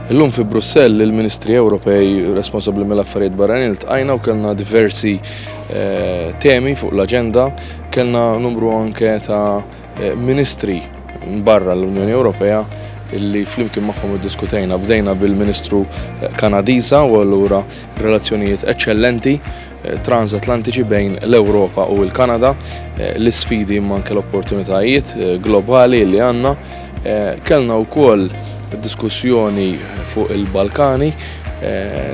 Illum fi Brussell il-Ministri Ewropej responsabbli mill-affarijiet barranin iltqajna u kellna diversi eh, temi fuq l-aġenda, kellna numru anke ta' eh, ministri barra l-Unjoni Ewropea illi flimkien magħhom iddiskutejna bdejna bil-Ministru eh, Kanadiża u allura relazzjonijiet eċċellenti transatlantiċi bejn l-Ewropa u l-Kanada, l-isfidi imma anke l-opportunitajiet globali li għandna. Kellna wkoll diskussjoni fuq il-Balkani,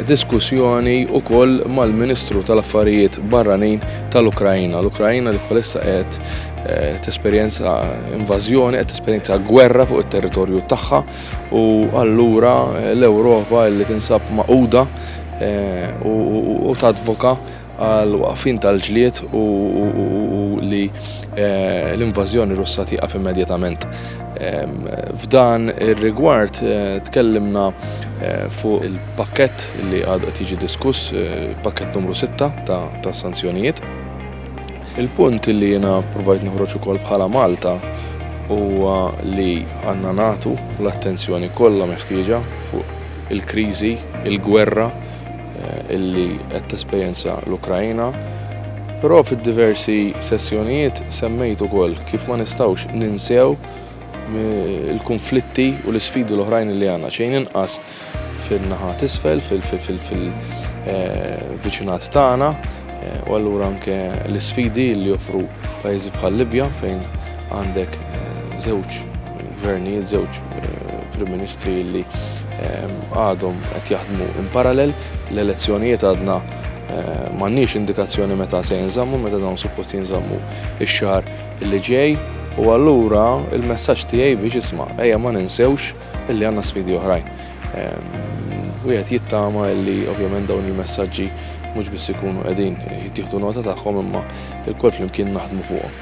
diskussjoni wkoll mal-Ministru tal-Affarijiet Barranin tal-Ukrajina. L-Ukrajina li bħalissa qed Eh, t-esperienza invażjoni, qed t-esperienza gwerra fuq it-territorju tagħha u allura eh, l-Ewropa li tinsab maquda u tadvoka għall-waqfien tal-ġlied u li l-invażjoni Russa tieqaf immedjatament. F'dan ir-rigward tkellimna fuq il-pakkett li għadu qed jiġi diskuss, pakkett numru sitta ta' sanzjonijiet. Il-punt li jiena provajt noħroġ ukoll bħala Malta huwa li għandna nagħtu l-attenzjoni kollha meħtieġa fuq il-kriżi, il-gwerra illi qed tesperjenza l-Ukrajna, però fid-diversi sessjonijiet semmejt ukoll kif ma nistgħux ninsew il-kunflitti u l-isfidi l-oħrajn li għandna xejn inqas fin-naħa t'isfel, fil-viċinat eh, tagħna, eh, u allura anke l-isfidi li joffru pajjiżi bħal Libja fejn għandek eh, żewġ gvernijiet, żewġ Prim Ministri li għadhom qed jaħdmu in parallel, l-elezzjonijiet għadna m'għandniex indikazzjoni meta se jinżammu, meta dawn suppost jinżammu ix-xahar li ġej, u allura il-messaġġ tiegħi biex isma' ejja ma ninsewx illi għandna sfidi oħrajn. Wieħed jittama illi ovvjament dawn il-messaġġi mhux biss ikunu qegħdin jittieħdu nota tagħhom imma lkoll flimkien naħdmu fuqhom.